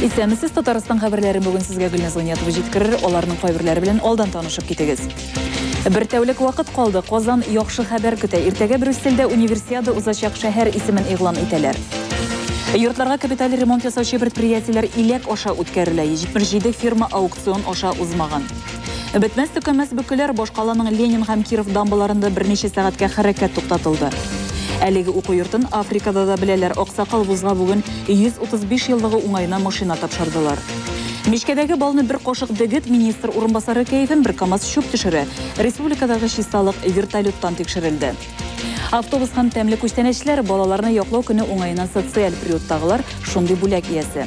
Исәнмесез, Татарстан хәбәрләрен бүгін сезгә Гөлназ Гыйниятова җиткерер, аларның кайберләре белән алдан танышып китегез. Бер тәүлек вакыт калды, Казан яхшы хәбәр көтә. Иртәгә Брюссельдә универсиада узачак шәһәр исемен игълан итәләр. Йортларга капиталь ремонт ясаучы предприятиеләр иләк аша үткәрелә. 77 фирма аукцион аша узмаган. Бетмәс төкәмәс бөкеләр башкаланың Ленин һәм Киров дамбаларында берничә сәгатькә хәрәкәт туктатылды. Әлеге уку йортын Африкада да беләләр. Аксакал вузга бүген 135 еллыгы уңаена машина тапшырдылар. Мичкәдәге балны бер кашык дегет министр урынбасары кәефен бер камаз чүп төшерә. Республикадагы чисталык вертолеттан тикшерелде. Автобус һәм тәмле күчтәнәчләр балаларны яклау көне уңаеннан социаль приюттагылар шундый бүләк иясе.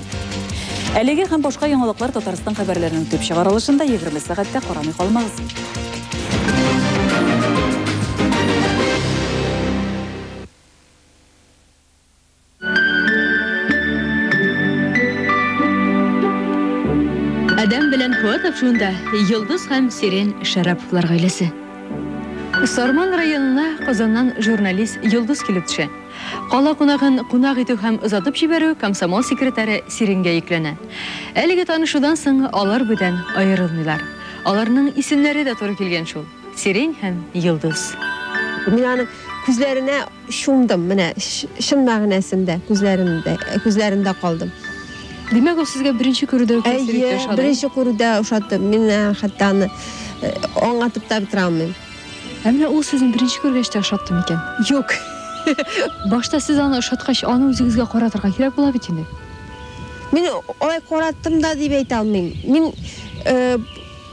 Әлеге һәм башка яңалыклар Татарстан хәбәрләренең төп чыгарылышында 20 сәгатьтә карамый калмагыз. Адәм белән Фуат Афшунда Йолдыз һәм Сирен Шараповлар гаиләсе. Сарман районына Казаннан журналист Йолдыз килеп төшә. Кала кунагын кунак итү һәм озатып җибәрү комсомол секретаре Сиренгә йөкләнә. Әлеге танышудан соң алар бүдән аерылмыйлар. Аларның исемнәре дә туры килгән шул, Сирень һәм Йолдыз. Мин аның күзләренә Чумдым, менә чын мәгънәсендә, күзләрендә, күзләрендә калдым. Димәк, ул сезгә беренче күрүдә үк тәэсир итте, ошады. Әйе, беренче күрүдә ошады. Мин хәтта аны аңлатып та бетерә алмыйм. Ә менә ул сезне беренче күргәч тә ошатты микән? Юк. Башта сез аны ошаткач, аны үзегезгә каратырга кирәк була бит инде. Мин алай караттым да дип әйтә алмыйм. Мин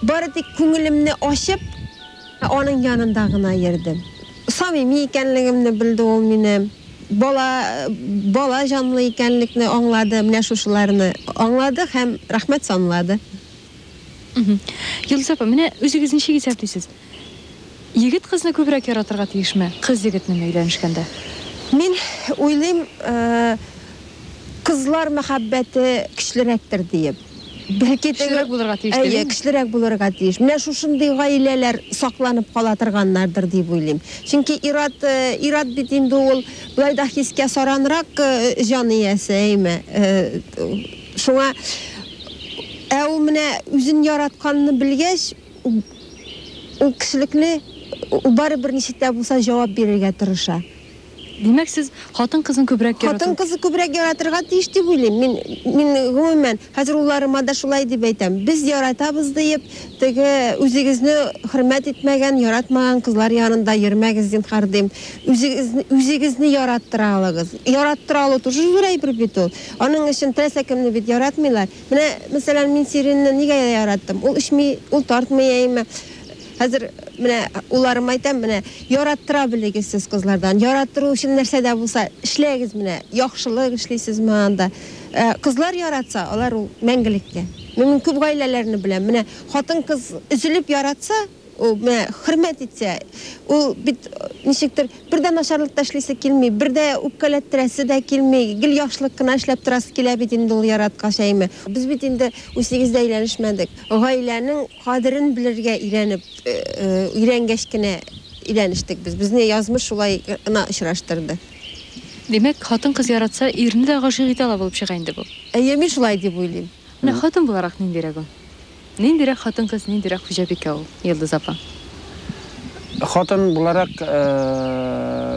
бары тик күңелемне ачып, Ә аның янында гына йөрдем. Самими икәнлегемне белде ул минем. Бала, бала җанлы икәнлекне аңлады, менә шушыларны аңлады һәм рәхмәт санлады. Йолдыз апа, менә үзегез ничек исәплисез? Егет кызны күбрәк яратырга тиешме, кыз егетнеме өйләнешкәндә? Мин уйлыйм, кызлар мәхәббәте көчлерәктер диеп. Бәлки көчлерәк булырга тиеш дип. Әйе, көчлерәк булырга тиеш. Менә шушындый гаиләләр сакланып кала торганнардыр дип уйлыйм. Чөнки ир-ат, ир-ат бит инде ул болай да хискә саранрак җан иясе, әйме? Шуңа, ә ул менә үзен яратканны белгәч, ул кешелекне, ул барыбер ничек тә булса җавап бирергә тырыша. Димәк, сез хатын-кызын күбрәк ярату. Хатын-кызы күбрәк яратырга тиеш дип уйлыйм. Мин, мин гомумән, хәзер улларыма да шулай дип әйтәм. Без яратабыз диеп, теге үзегезне хөрмәт итмәгән, яратмаган кызлар янында йөрмәгез, зинһар, дим. Үзегез, үзегезне яраттыра алыгыз. Яраттыра алу тоже зур әйбер бит ул. Аның өчен теләсә кемне бит яратмыйлар. Менә, мәсәлән, мин Сиринны нигә яраттым? Ул эчми, ул тартмый, әйеме? Хәзер менә улларыма әйтәм, менә яраттыра белегез сез кызлардан. Яраттыру өчен нәрсә дә булса эшләгез менә. Яхшылык эшлисез менә анда. Ә, кызлар яратса, алар ул мәңгелеккә. Мин мин күп гаиләләрне беләм. Менә хатын-кыз өзелеп яратса, ул менә хөрмәт итсә, ул бит ничектер бер дә начарлык та эшлисе килми, бер дә үпкәләттерәсе дә килми, гел яхшылык кына эшләп торасы килә бит инде ул яраткач, әйме. Без бит инде үсигез дә әйләнешмәдек. Гаиләнең кадерен белергә өйрәнеп, өйрәнгәч кенә өйләнештек без. Безне язмыш шулай гына очраштырды. Димәк, хатын-кыз яратса, ирне дә гашыйк итә ала булып чыга инде бу. Әйе, мин шулай дип уйлыйм. Менә хатын буларак ниндирәк ул? Ниндирәк хатын-кыз, ниндирәк хуҗабикә ул, Йолдыз апа? Хатын буларак,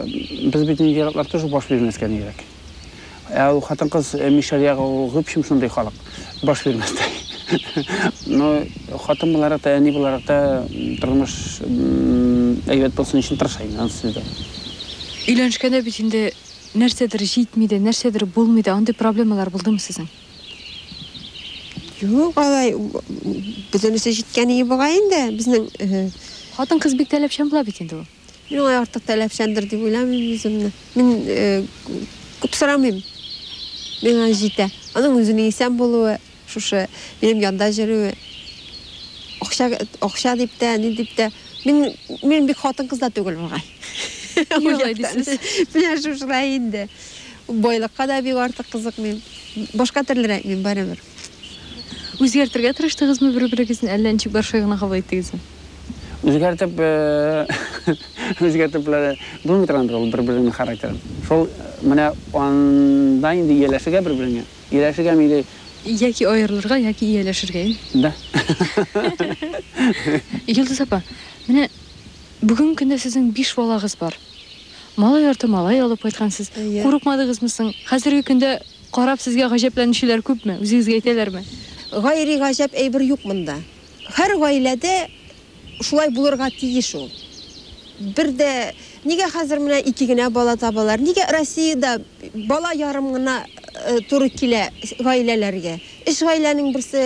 без бит нинди яраклар тыш баш бирмәскә нирәк. Ә ул хатын-кыз мишәр ягы ул гөпшем шундый халык. Баш бирмәстәй. Ну, хатын буларак та, әни буларак та тормыш әйбәт булсын өчен тырыша инде, анысы сүздә. Өйләнешкәндә бит инде нәрсәдер җитми дә, нәрсәдер булмый да, андый проблемалар булдымы сезнең? Юк, алай бөтенесе җиткән иде бугай инде безнең. Хатын-кыз бик таләпчән була бит инде ул. Мин алай артык таләпчәндер дип уйламыйм үземне. Мин күп сорамыйм. Миңа җитә. Аның үзенең исән булуы, шушы минем янда йөрүе. Акча, акча дип тә, ни дип тә. Мин, мин бик хатын-кыз да түгел бугай. Юлай дисез. Менә шушылай инде. Байлыкка да бик артык кызыкмыйм. Башка төрлерәк мин барыбер. Үзгәртергә тырыштыгызмы бер-берегезне, әллә ничек баршай гына кабул иттегезме? Үзгәртеп, үзгәртеп булмый тора инде ул бер-береңнең характерын. Шул менә анда инде ияләшергә бер-береңә. Ияләшергәме или Яки аерылырга, яки ияләшергә, ин. Да. Йолдыз апа, менә бүген көндә сезнең биш балагыз бар. Малай арты малай алып кайткансыз. Курыкмадыгызмы соң? Хәзерге көндә Карап сезгә гаҗәпләнүчеләр күпме? Үзегезгә әйтәләрме? Гайри гаҗәп әйбер юк монда. Һәр гаиләдә шулай булырга тиеш ул. Бер дә, нигә хәзер менә ике генә бала табалар? Нигә Россиядә бала ярым гына туры килә гаиләләргә? Өч гаиләнең берсе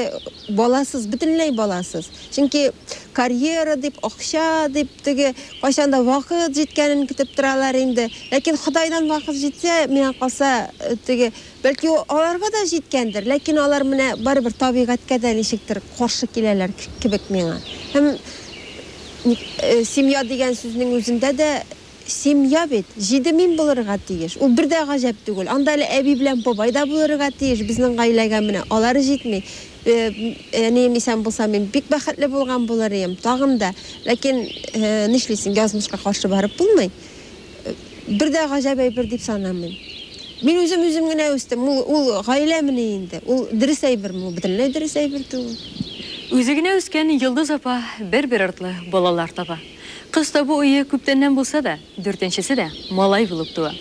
баласыз, бөтенләй баласыз. Чөнки карьера дип, акча дип, теге кайчан да вакыт җиткәнен көтеп торалар инде. Ләкин Ходайдан вакыт җитсә, миңа калса, теге, бәлки, аларга да җиткәндер, ләкин алар менә барыбер табигатькә дә ничектер каршы киләләр кебек миңа. Һәм ник, семья дигән сүзнең үзендә дә. Семья бит, җиде мин булырга тиеш. Ул бер дә гаҗәп түгел. Анда әле әби белән бабай да булырга тиеш, безнең гаиләгә менә алар җитми. Әнием исән булса, мин бик бәхетле булган булыр ием. Тагын да. Ләкин, нишлисең, язмышка каршы барып булмый. Бер дә гаҗәп әйбер дип санамыйм. Мин үзем үзем генә үстем. Ул, ул гаиләмени инде? Ул дөрес әйберме? Ул бөтенләй дөрес әйбер түгел. Үзе генә үскән Йолдыз апа бер-бер артлы балалар таба. Кыз табу уе күптәннән булса да, дүртенчесе дә малай булып туа.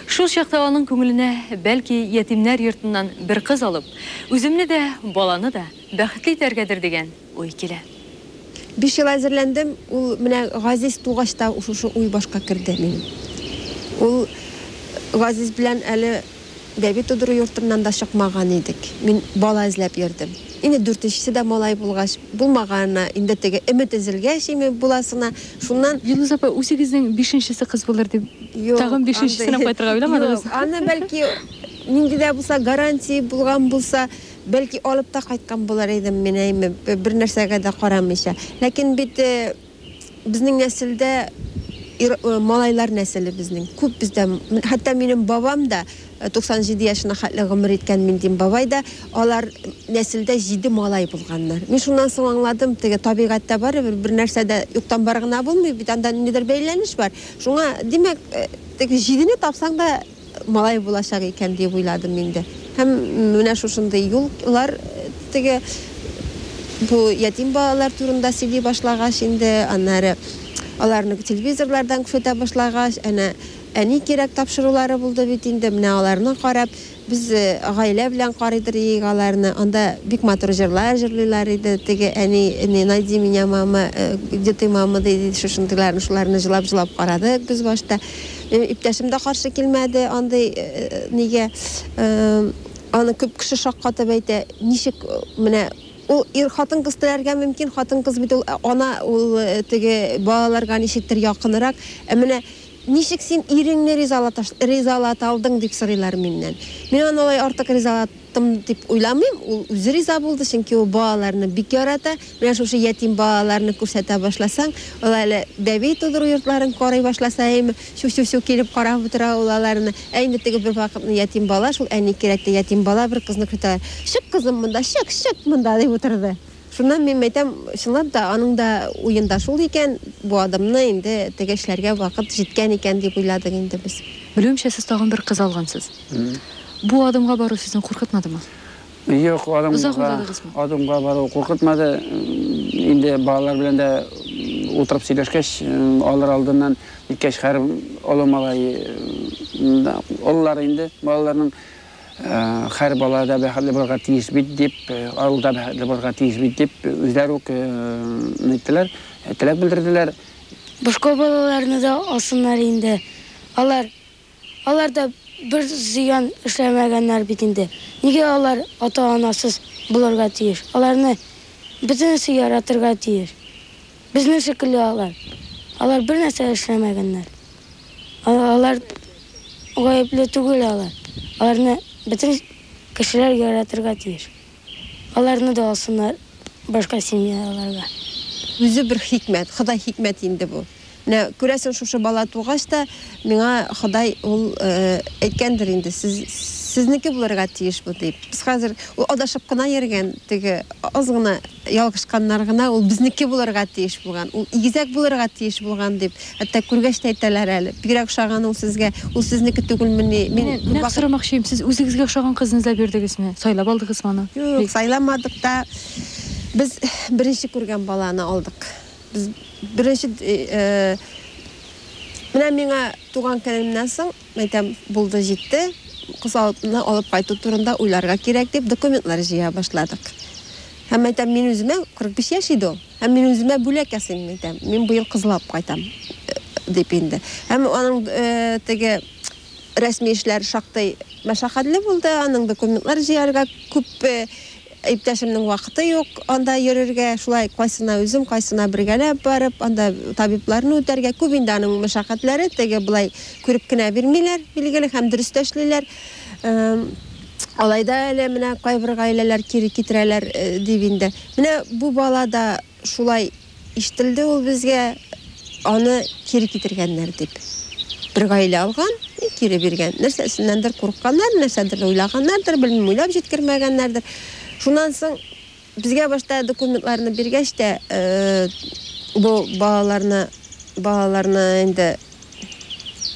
Шул чакта аның күңеленә, бәлки, ятимнәр йортыннан бер кыз алып, үземне дә, баланы да бәхетле итәргәдер дигән уй килә. Биш ел әзерләндем, ул менә Газиз тугач та шушы уй башка керде минем. Ул Газиз белән әле Бәби тудыру йортыннан да чыкмаган идек. Мин бала эзләп йөрдем. Инде дүртенчесе дә малай булгач, булмаганына, инде теге өмет өзелгәч име, буласына, шуннан. Илдус апа, үзегезнең бишенчесе кыз булыр дип, тагын бишенчесен алып кайтырга уйламадыгызмы? Юк, аны, бәлки, нинди дә булса гарантия булган булса, бәлки, алып та кайткан булыр идем мин, әйме, бернәрсәгә дә карамыйча. Ләкин бит. Безнең нәселдә ир малайлар нәселе безнең күп бездә хәтта минем бабам да 97 яшенә хәтле гомер иткән Миндин бабай да алар нәселдә җиде малай булганнар. Мин шуннан соң аңладым, теге табигатьтә барыбер бер нәрсә дә юктан бар гына булмый бит, анда ниндидер бәйләнеш бар. Шуңа, димәк, теге җидене тапсаң да, Малай булачак икән, диеп уйладым инде. Һәм менә шушындый юл лар теге бу ятим балалар турында сөйли башлагач инде, аннары аларны телевизорлардан күрсәтә башлагач, әнә әни кирәк тапшырулары булды бит инде, менә аларны карап, без гаилә белән карыйдыр иек аларны, анда бик матур җырлар җырлыйлар иде, теге әни не найди меня мама, где ты мама, ди, шушындыйларны, шуларны җылап-җылап карадык без башта. Иптәшем дә каршы килмәде андый нигә. Аны күп кеше шаккатып әйтә. Ничек менә ул ир хатын кыз теләргә мөмкин, хатын кыз бит ул ана, ул теге балаларга ничектер якынрак. Ә менә ничек син иреңне ризалата алдың, дип сорыйлар миннән. Мин аны алай артык ризалата. Яттым дип уйламыйм, ул үзе риза булды, чөнки ул балаларны бик ярата. Менә шушы ятим балаларны күрсәтә башласаң, ул әле бәби тудыру йортларын карый башласа, әйеме, чу-чу-чу килеп карап утыра ул аларны. Әйеме, теге бер вакытны ятим бала шул әни кирәкте, ятим бала бер кызны көтә. Чык, кызым, монда, чык, чык монда, дип утырды. Шуннан мин әйтәм, чынлап та, аның да уенда шул икән, бу адымны инде теге эшләргә вакыт җиткән икән дип уйладык инде без. Белүемчә, сез тагын бер кыз алгансыз? Бу адымга бару сезне куркытмадымы? Юк, адымга. Озак уйладыгызмы? Адымга бару куркытмады. Инде балалар белән дә утырып сөйләшкәч, алар алдыннан иткәч, хәр олы малай олылар инде, балаларның хәр бала да бәхетле булырга тиеш бит дип, авыл да бәхетле булырга тиеш бит дип, үзләре үк ниттеләр, теләк белдерделәр. Башка балаларны да алсыннар инде. Алар Алар да бер зыян эшләмәгәннәр бит инде. Нигә алар ата-анасыз булырга тиеш? Аларны бөтенесе яратырга тиеш. Безнең шикелле алар. Алар бернәрсә эшләмәгәннәр. Алар гаепле түгел алар. Аларны бөтен кешеләр яратырга тиеш. Аларны да алсыннар башка семьяларга. Үзе бер хикмәт, Ходай хикмәт инде бу. Менә күрәсең, шушы бала тугач та, миңа Ходай ул әйткәндер инде, сез, сезнеке булырга тиеш бу дип. Без хәзер, ул адашып кына йөргән, теге аз гына ялгышканнар гына, ул безнеке булырга тиеш булган, ул игезәк булырга тиеш булган дип, Хәтта күргәч тә әйтәләр әле, бигрәк ошаган ул сезгә, ул сезнеке түгелмени? Мин нәкъ сорамакчыйм, сез үзегезгә ошаган кызны эзләп йөрдегезме, сайлап алдыгызмы аны? Юк, сайламадык та. Без беренче күргән баланы алдык. Без беренче, менә миңа туган көнемнән соң, Әйтәм, булды, җитте, кыз алдына алып кайту турында уйларга кирәк дип, документлар җыя башладык. Һәм әйтәм, мин үземә 45 яшь иде ул. Һәм мин үземә бүләк ясыйм, әйтәм. Мин быел кызлап кайтам э, дип инде. Һәм аның э, теге рәсми эшләр шактый мәшәкатьле булды, аның документлар җыярга күп э, Иптәшемнең вакыты юк анда йөрергә, шулай кайсына үзем, кайсына бергәләп барып, анда табибларны үтәргә. Күп инде аның мәшәкатьләре, теге болай күреп кенә бирмиләр, билгеле, һәм дөрес тә эшлиләр. Алай да әле менә кайбер гаиләләр кире китерәләр, дип инде. Менә бу бала да Шулай ишетелде ул безгә, аны кире китергәннәр дип. Бер гаилә алган и кире биргән. Нәрсәсеннәндер курыкканнар, нәрсәдер уйлаганнардыр, белмим, уйлап җиткермәгәннәрдер. Шуннан соң безгә башта документларны биргәч тә, бу балаларны, балаларны инде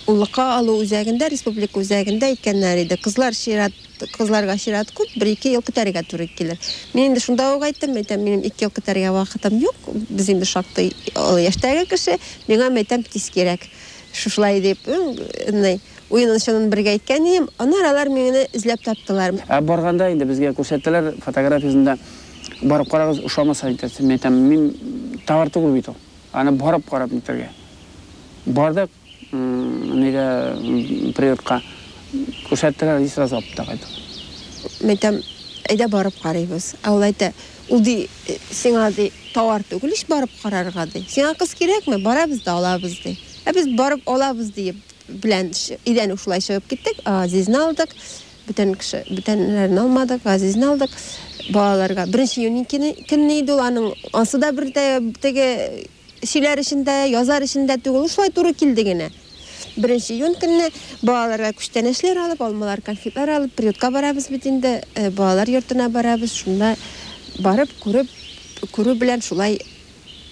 уллыкка алу үзәгендә, республика үзәгендә иткәннәр иде. Кызлар чират. Кызларга чират күп, бер-ике ел көтәргә туры килер. Мин инде шунда ук әйттем, мәйтәм, минем ике ел көтәргә вакытым юк, без инде шактый олы яшьтәге кеше, миңа, мәйтәм, тиз кирәк. Шушылай дип, ны, уенын-чынын бергә әйткән идем, аннары алар мине эзләп таптылар. Ә барганда инде безгә күрсәттеләр, фотографиясен дә барып карагыз, ошамаса әйтерсең, мәйтәм, мин товар түгел бит ул, аны барып карап нитәргә. Бардык. Нигә приютка күрсәттеләр и сразу апта кайттың? Мин әйтәм, әйдә барып карыйбыз. Ә ул әйтә, ул ди, сиңа ди, тауар түгел ич барып карарга ди. Сиңа кыз кирәкме, барабыз да алабыз ди. Ә без барып алабыз диеп белән өйдән үк шулай чыгып киттек. Газизне алдык. Бүтән кеше, бүтәннәрне алмадык, Газизне алдык. Балаларга беренче июнь көнне иде ул аның. Ансы да бер теге Сөйләр өчен дә, язар өчен дә түгел, ул шулай туры килде генә. Беренче июнь көнне балаларга күчтәнәчләр алып, алмалар, конфетлар алып, приютка барабыз бит инде, э, балалар йортына барабыз, шунда барып, күреп, күрү белән шулай,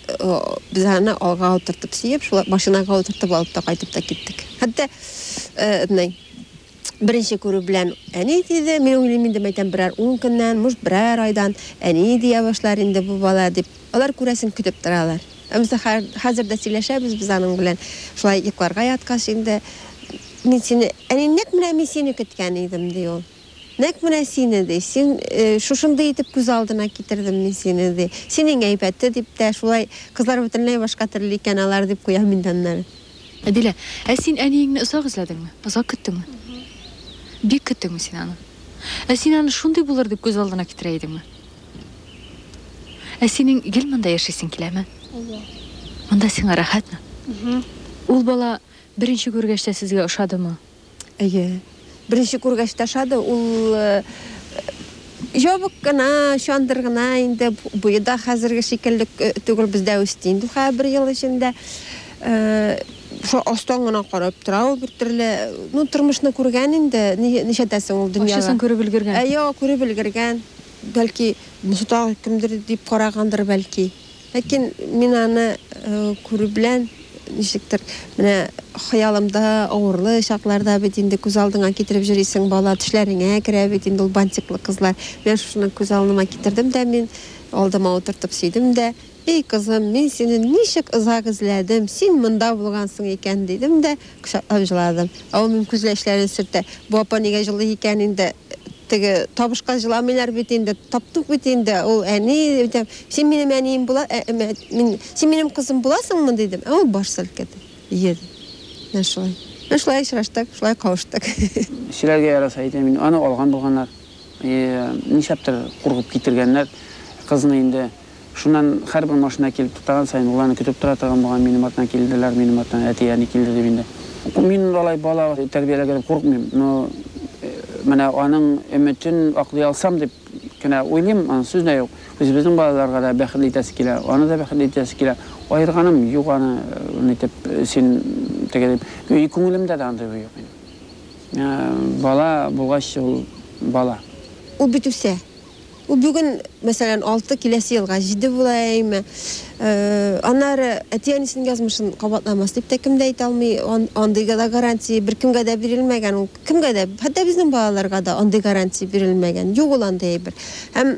э, без аны алга утыртып сөеп, шулай машинага утыртып алып та кайтып та киттек. Хәтта, э, этный, Беренче күрү белән әни диде, мин уйлыйм инде, мәйтәм, берәр ун көннән, может, берәр айдан әни дия башлар инде бу бала дип. Алар, күрәсең, көтеп торалар. Ә без хәзер дә сөйләшәбез без аның белән. Шулай йокларга яткач инде, мин сине, әни, нәкъ менә мин сине көткән идем, ди ул. Нәкъ менә сине, ди, син шушындый итеп күз алдына китердем мин сине, ди. Син иң әйбәте, дип тә, шулай кызлар бөтенләй башка төрле икән алар, дип куям инде аннары. Әдилә. Ә син әниеңне озак эзләдеңме? Озак көттеңме? Бик көттеңме син аны? Ә син аны шундый булыр дип күз алдына китерә идеңме? Ә синең гел монда яшисең киләме? Әйе. Монда сиңа рәхәтме? Ул бала беренче күргәч тә сезгә ошадымы? Әйе. Беренче күргәч тә ошады. Ул ябык кына, чандыр гына инде. Буе да хәзерге шикелле түгел, бездә үсте инде хәзер бер ел эчендә. Шо астан гына карап тора ул бертөрле. Ну, тормышны күргән инде, ничәдәсең ул дөньяга. Ачысын күреп өлгергән. Әйе, күреп өлгергән. Бәлки, монсы тагы кемдер дип карагандыр, бәлки. Ләкин мин аны күрү белән, ничектер, менә хыялымда авырлы чакларда бит инде күз алдыңа китереп җөрисең, бала төшләреңә керә бит инде ул бантиклы кызлар. Менә шушыны күз алыныма китердем дә мин, алдыма утыртып сөйдем дә, Эй, кызым, мин сине ничек озак эзләдем, син монда булгансың икән, дидем дә, Кочаклап җыладым. Ә ул минем күзгә эчләрен сөртә. Бу апа нигә җылый икән инде? Теге табышка җыламыйлар бит инде. Таптык бит инде. Ул әни, дидем. Син минем әнием була, мин, син минем кызым буласыңмы? дидем. Ә ул баш селкеде. Йөри. Менә шулай. Менә шулай очраштык, шулай кавыштык. Кешеләргә яраса әйтәм инде. Аны алган булганнар. Нишләптер куркып китергәннәр кызны инде. Шуннан һәрбер машина килеп туктаган саен, ул аны көтеп тора торган булган, минем артымнан килделәр, минем артымнан әти, әни килде дип инде. Мин алай бала тәрбияләргә дип курыкмыйм, но менә аның өметен аклый алсам дип кенә уйлыйм, аны сүз дә юк. Үзебезнең балаларга да бәхетле итәсе килә, аны да бәхетле итәсе килә. Аерганым юк аны, нитеп, син теге дип. И күңелемдә дә андый уй юк минем. Бала булгач, ул бала. Ул бит үсә. Ул бүген, мәсәлән, алты, киләсе елга җиде була яиме. Аннары әти-әнисенең язмышын кабатламас дип тә кем дә әйтә алмый. Андый да гарантия беркемгә дә бирелмәгән ул. Кемгә дә, хәтта безнең балаларга да андый гарантия бирелмәгән. Юк ул андый әйбер. Һәм,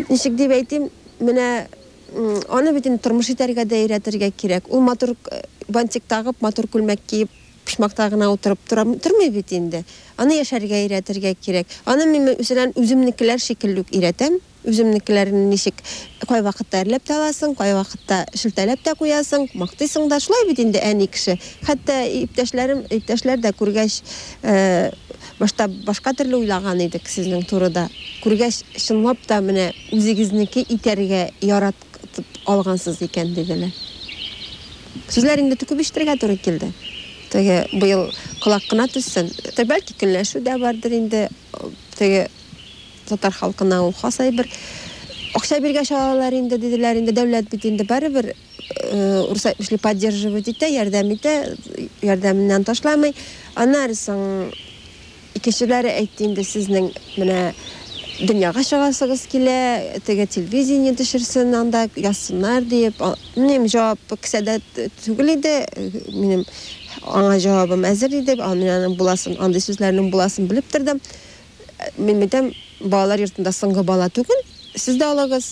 ничек дип әйтим, менә аны бит инде тормыш итәргә дә өйрәтергә кирәк. Ул матур бантик тагып, матур күлмәк киеп, Почмакта гына утырып тора тормый бит инде. Аны яшәргә өйрәтергә кирәк. Аны мин мәсәлән, үземнекеләр шикелле үк өйрәтәм. Үземнекеләрне ничек кайвакытта әрләп тә аласың, кайвакытта шелтәләп тә куясың, мактыйсың да. Шулай бит инде әни кеше. Хәтта иптәшләрем, иптәшләр дә күргәч, башта башка төрле уйлаган идек сезнең турыда. Күргәч, чынлап та менә үзегезнеке итәргә ярат. алгансыз икән, диделәр. Сүзләр инде күп ишетергә туры килде. Теге быел колак кына төссен. Бәлки көнләшү дә бардыр инде. Теге татар халкына ул хас әйбер. Акча биргәч алалар инде, диделәр. Инде дәүләт бит инде барыбер урыс әйтмешли поддерживать итә, ярдәм итә, ярдәменнән ташламый. Аннары соң Икенчеләре әйтте инде, сезнең менә дөньяга чыгасыгыз килә, теге телевидение төшерсен анда, язсыннар диеп. Минем җавап кесәдә түгел иде, минем аңа җавабым әзер иде, мин аның буласын, андый сүзләрнең буласын белеп тордым. Мин әйтәм, балалар йортында соңгы бала түгел, сез дә алыгыз,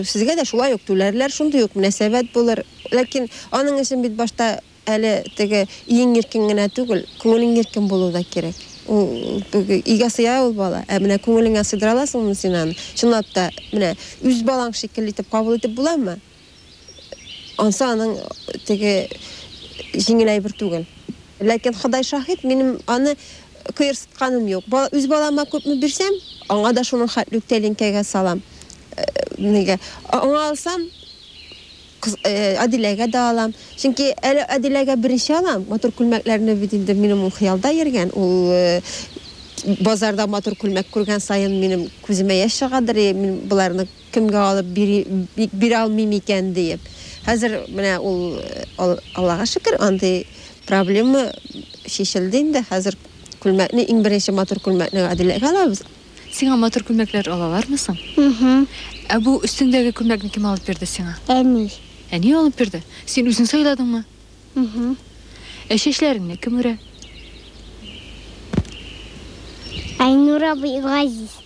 сезгә дә шулай ук түләрләр, шундый ук мөнәсәбәт булыр. Ләкин аның өчен бит башта Әле теге иң иркен генә түгел, күңелең иркен булу да кирәк. Ул өйгә сыя ул бала. Ә менә күңелеңә сыйдыра аласыңмы син аны? Чынлап та, менә үз балаң шикелле итеп кабул итеп буламы? Ансы аның теге җиңел әйбер түгел. Ләкин Ходай шаһит, минем аны кыерсытканым юк. Бала, үз балама күпме бирсәм, аңа да шуның хәтле үк тәлинкәгә салам. Нигә? Аңа алсам, Кыз, Адиләгә дә алам. Чөнки әле Адиләгә беренче алам. Матур күлмәкләрне бит инде минем ул хыялда йөргән. Ул базарда матур күлмәк күргән саен минем күземә яшь чыгадыр, и, мин боларны кемгә алып бирим, бирә алмыйм икән диеп. Хәзер менә ул, Аллага шөкер, андый проблема чишелде инде. Хәзер күлмәкне, иң беренче матур күлмәкне Адиләгә алабыз. Сиңа матур күлмәкләр алалармы соң? Уһу. Ә бу өстеңдәге күлмәкне кем алып бирде сиңа? Әни. Әни алып бирде? Син үзең сайладыңмы? Уһу. Ә чәчләреңне кем үрә? Айнур абый Газиз.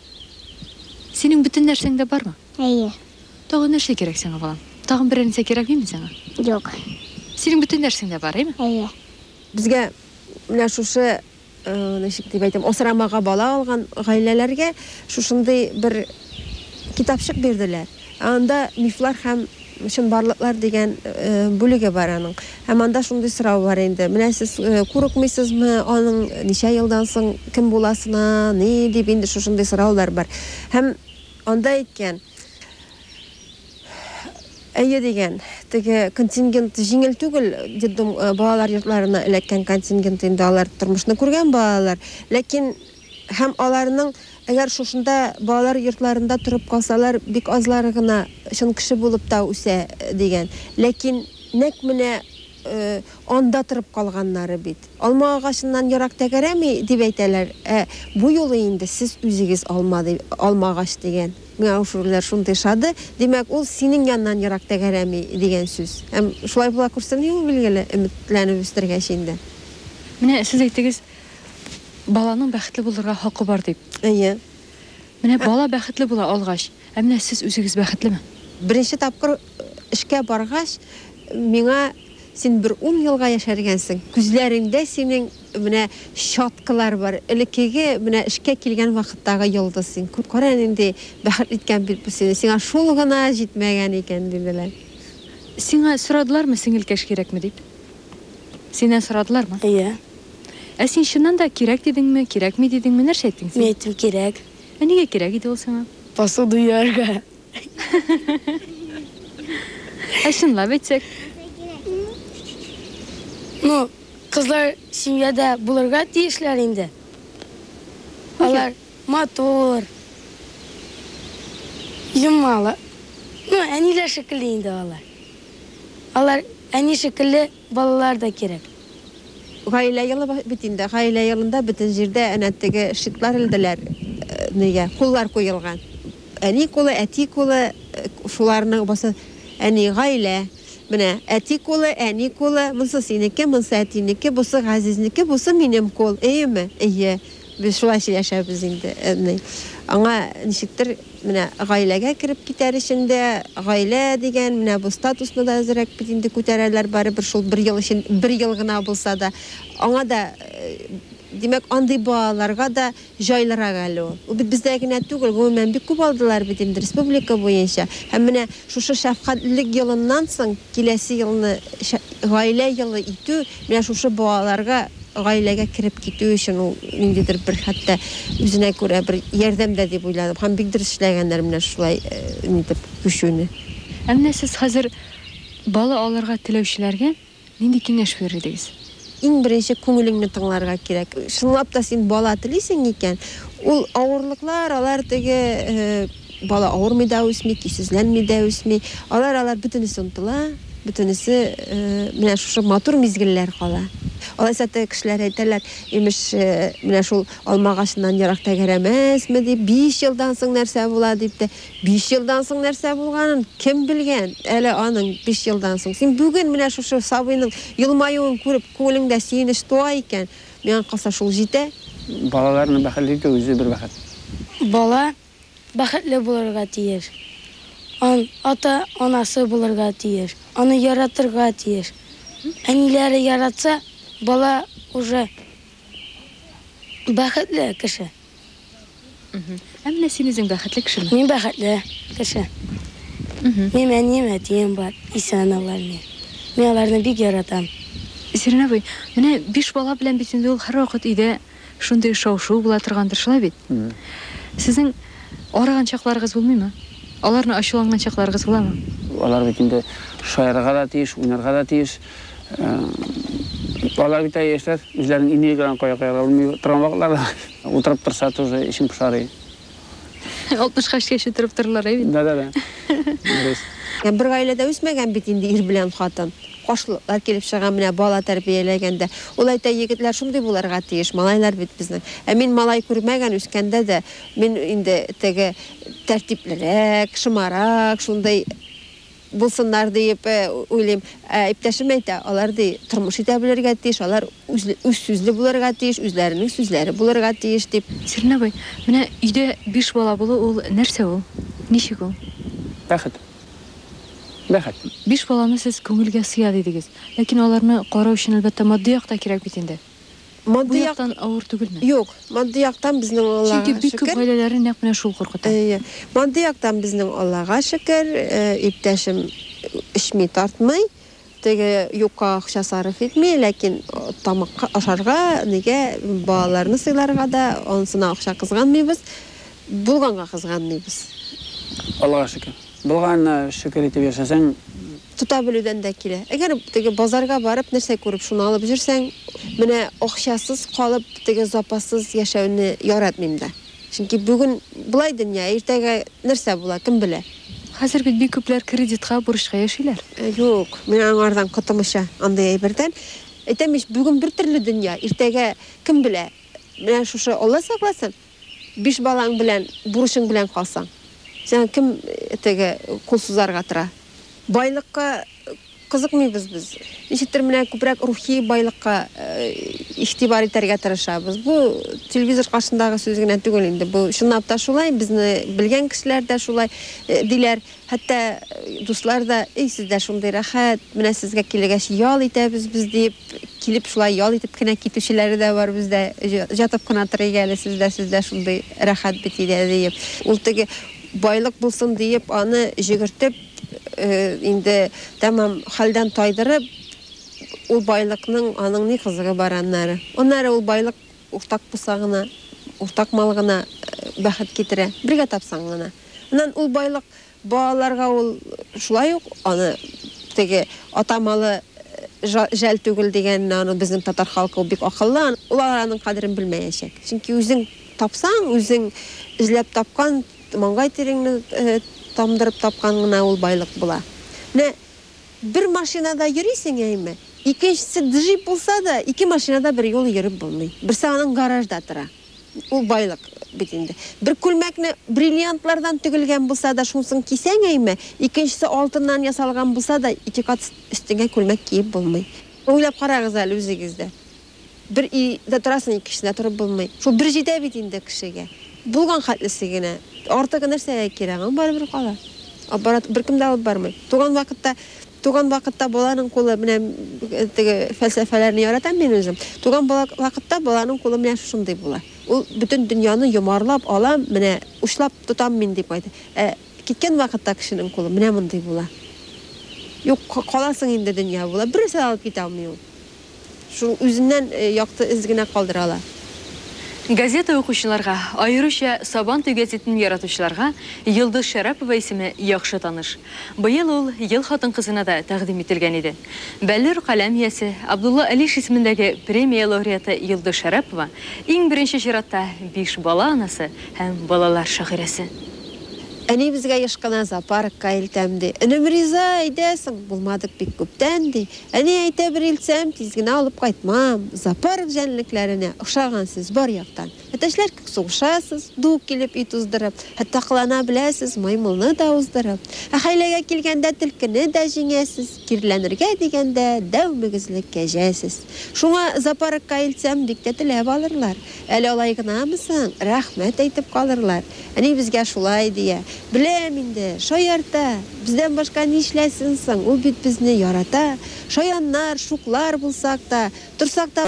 Синең бөтен нәрсәң дә бармы? Әйе. Тагын нәрсә кирәк сиңа, балам? Тагын берәр нәрсә кирәкмиме сиңа? Юк. Синең бөтен нәрсәң дә бар, әйме? Әйе. Безгә менә шушы Ничек дип әйтим, асрамага бала алган гаиләләргә шушындый бер китапчык бирделәр. Ә анда мифлар һәм чынбарлыклар дигән бүлеге бар аның. Һәм анда шундый сорау бар инде, менә сез курыкмыйсызмы аның ничә елдан соң кем буласына, ни дип инде шушындый сораулар бар. Һәм анда әйткән. Әйе дигән. Теге контингент җиңел түгел, детдом балалар йортларына эләккән контингент инде алар тормышны күргән балалар, ләкин һәм аларның әгәр шушында балалар йортларында торып калсалар, бик азлары гына чын кеше булып та үсә дигән. Ләкин нәкъ менә анда торып калганнары бит. Алма агачыннан ерак тәгәрәми, дип әйтәләр, ә бу юлы инде сез үзегез алма, алма агач дигән. Мяушурлар шундый шады, димәк, ул синең яннан ерак тәгәрәми, дигән сүз. Һәм шулай була күрсен, ди ул, билгеле, өметләнеп үстергәч инде. Менә сез әйтегез, баланың бәхетле булырга хакы бар дип. Әйе. Менә бала бәхетле була алгач, ә менә сез үзегез бәхетлеме? Беренче тапкыр эшкә баргач, миңа, Син бер ун елга яшәргәнсең, күзләреңдә синең Менә щеткалар бар. Элеккеге, менә эшкә килгән вакыттагы йолдыз син. Күр, кара әле нинди бәхетле иткән бит бу сине. Сиңа шул гына җитмәгән икән, диделәр. Сиңа сорадылармы, сеңелкәш кирәкме дип? Синнән сорадылармы? Әйе. Ә син чыннан да кирәк дидеңме, кирәкми дидеңме, нәрсә әйттең син? Мин әйттем, кирәк. Ә нигә кирәк иде ул сиңа? Посуда юарга. Ә чынлап әйтсәк? Ну, кызлар семьяда булырга тиешләр инде. Алар матур, юмалы. Ну, әниләр шикелле инде алар. Алар әни шикелле Балалар да кирәк. Гаилә елы бит инде. Гаилә елында бөтен җирдә әнә теге шитлар элделәр, нигә, куллар куелган. Әни кулы, әти кулы, шуларның басы, әни, гаилә. Менә, әти кулы, әни кулы, монсы синеке, монсы әтинеке, бусы Газизнеке, бусы минем кул, эеме? Эйе. Без шулай сөйләшәбез инде, әни. Аңа ничектер, менә гаиләгә кереп китәр өчен дә, гаилә дигән менә бу статусны да әзрәк бит инде күтәрәләр, барыбер шул бер ел өчен, бер ел гына булса да. Аңа да, димәк, андый балаларга да җайлырак әле ул. Ул бит бездә генә түгел, гомумән бик күп алдылар бит инде республика буенча. Һәм менә шушы шәфкатьлелек елыннан соң киләсе елны гаилә елы итү, менә шушы балаларга Гаиләгә кереп китү өчен ул ниндидер бер хәтта үзенә күрә бер ярдәм дә дип уйладым. Һәм бик дөрес эшләгәннәр менә шулай нитеп күчүне. Ә менә сез хәзер бала алырга теләүчеләргә нинди киңәш бирер идегез? Иң беренче күңелеңне тыңларга кирәк. Чынлап та син бала телисең икән, ул авырлыклар, алар теге, Бала авырмый да үсми, көйсезләнми дә үсми. Ара-аралар бөтенесе онытыла, бөтенесе менә шушы матур мизгелләр кала. Алайса теге кешеләр әйтәләр, имеш, менә шул алма агачыннан ерак тәгәрәмәсме дип, биш елдан соң нәрсә була дип тә. Биш елдан соң нәрсә булганын кем белгән әле аның биш елдан соң? Син бүген менә шушы сабыйның елмаюын күреп, күңелеңдә сөенеч туа икән, миңа калса шул җитә. Балаларны бәхетле итү үзе бер бәхет. Бала бәхетле булырга тиеш. Ан, ата, анасы булырга тиеш. Аны яратырга тиеш. Әниләре яратса, бала уже бәхетле кеше. Мгм. Ә менә син үзең бәхетле кешеме? Мин бәхетле кеше. Мгм. Минем әнием, әтием бар. Исән алар мин. Мин аларны бик яратам. Зирнабый, менә биш бала белән бит инде ул һәрвакыт өйдә. шундый шау-шу була торгандыр, шулай бит? Сезнең арыган чакларыгыз булмыймы? Аларны ачуланган чакларыгыз буламы? Алар бит инде шаярырга да тиеш, уйнарга да тиеш. Балалар бит әле яшьләр, үзләренең энергияләрен кая куярга белми торган вакытлары. Утырып торса, тоже эчең пошырый. Алтмышка эчкәче торып торырлар, әй бит. Да-да-да. Дөрес. Бер гаиләдә үсмәгән бит инде ир белән хатын. Каршылыклар килеп чыга менә бала тәрбияләгәндә. Ул әйтә, егетләр шундый булырга тиеш, малайлар бит безнең. Ә мин малай күрмәгән, үскәндә дә мин инде теге тәртиплерәк, шымарак, шундый булсыннар диеп уйлыйм. Ә иптәшем әйтә, алар ди, тормыш итә белергә тиеш, алар үзсүзле булырга тиеш, үзләренең сүзләре булырга тиеш дип. Сирин абый, менә өйдә биш бала булу ул нәрсә ул? Ничек ул? Бәхет. Бәхет. Биш баланы сез күңелгә сыя дидегез. Ләкин аларны карау өчен, әлбәттә, матди як та кирәк бит инде. Бу яктан авыр түгелме? Юк, матди яктан безнең Аллага шөкер. Чөнки бик күп гаиләләрне нәкъ менә шул куркыта. Әйе. Матди яктан безнең Аллага шөкер, иптәшем эчми, тартмый, теге юкка акча сарыф итми, ләкин тамакка ашарга, нигә, балаларны сыйларга да анысына акча кызганмыйбыз, булганга кызганмыйбыз. Аллага шөкер. Булганына шөкер итеп яшәсәң. Тота белүдән дә килә. Әгәр теге базарга барып, нәрсә күреп, шуны алып җөрсәң, менә акчасыз калып, теге запассыз яшәүне яратмыйм да. Чөнки бүген болай дөнья, ә иртәгә нәрсә була, кем белә. Хәзер бит бик күпләр кредитка, бурычка яшиләр. Юк, мин аңардан котымыча, андый әйбердән. Әйтәм ич, бүген бертөрле дөнья, иртәгә кем белә. Менә шушы, Алла сакласын, Биш балаң белән бурычың белән калсаң, сиңа кем теге кул сузарга тора? Байлыкка кызыкмыйбыз без. Ничектер менә күбрәк рухи байлыкка игътибар итәргә тырышабыз. Бу телевизор каршындагы сүз генә түгел инде, бу чынлап та шулай, безне белгән кешеләр дә шулай диләр. Хәтта дуслар да, Эй, сездә шундый рәхәт, менә сезгә килгәч ял итәбез без, диеп, килеп шулай ял итеп кенә китүчеләре дә бар бездә. Җатып кына торыйк әле, сездә, сездә шундый рәхәт бит өйдә, диеп. Ул теге байлык булсын диеп аны җөгертеп, инде тәмам хәлдән тайдырып, ул байлыкның аның ни кызыгы бар аннары. Аннары ул байлык Уртак булса гына, уртак мал гына бәхет китерә. Бергә тапсаң гына. Аннан ул байлык балаларга ул шулай ук аны теге ата малы жәл түгел дигәнне аны безнең татар халкы ул бик акыллы, ул аның кадерен белмәячәк. Чөнки үзең тапсаң, үзең эзләп тапкан, маңгай тиреңне тамдырып тапкан гына ул байлык була. Менә. Бер машинада йөрисең, әйме? Икенчесе джип булса да, ике машинада берьюлы йөреп булмый. Берсе аның гаражда тора. Ул байлык бит инде. Бер күлмәкне бриллиантлардан тегелгән булса да, шунысын кисәң, әйме? Икенчесе алтыннан ясалган булса да, ике кат өстеңә күлмәк киеп булмый. Уйлап карагыз әле үзегез дә. Бер өйдә торасың, икенчесендә торып булмый. Шул бер җитә бит инде кешегә. Булган хәтлесе генә. Артыгы нәрсәгә кирәк? Ул барыбер кала. Аппарат беркем дә алып бармый. Туган вакытта, туган вакытта баланың кулы менә теге фәлсәфәләрне яратам мин үзем. Туган бала вакытта баланың кулы менә шушындый була. Ул бөтен дөньяны йомарлап алам, менә учлап тотам мин дип кайта. Ә киткән вакытта кешенең кулы менә мондый була. Юк, каласың инде дөнья була. Берәрсе дә алып китә алмый ул. Шул үзеннән якты эз генә калдыра ала. Газета укучыларга, аеруча Сабантуй гәзитен яратучыларга Йолдыз Шәрапова исеме яхшы таныш. Быел ул Ел хатын-кызына да тәкъдим ителгән иде. Бәллүр каләм иясе, Абдулла Алиш исемендәге премия лауреаты Йолдыз Шәрапова, иң беренче чиратта, биш бала анасы һәм балалар шагыйрәсе. Әнибезгә еш кына зоопаркка илтәм, ди. Энем риза, әйдәсең. Булмадык бик күптән, ди. Әни әйтә бер илтсәм, тиз генә алып кайтмам. Зоопарк җәнлекләренә охшаган сез бар яктан. Әтәчләр кебек сугышасыз, ду килеп өй туздырып. Хәтта кылана беләсез, маймылны да уздырып. Ә хәйләгә килгәндә төлкене дә җиңәсез. Кирләнергә дигәндә дәү мөгезле кәҗә сез. Шуңа зоопаркка илтсәм, бик тә теләп алырлар. Әле алай гынамы соң, рәхмәт әйтеп калырлар. Әни безгә шулай дия. Беләм инде, шаярта! Бездән башка нишләсен соң, ул бит безне ярата. Шаяннар, шуклар булсак та, торсак та.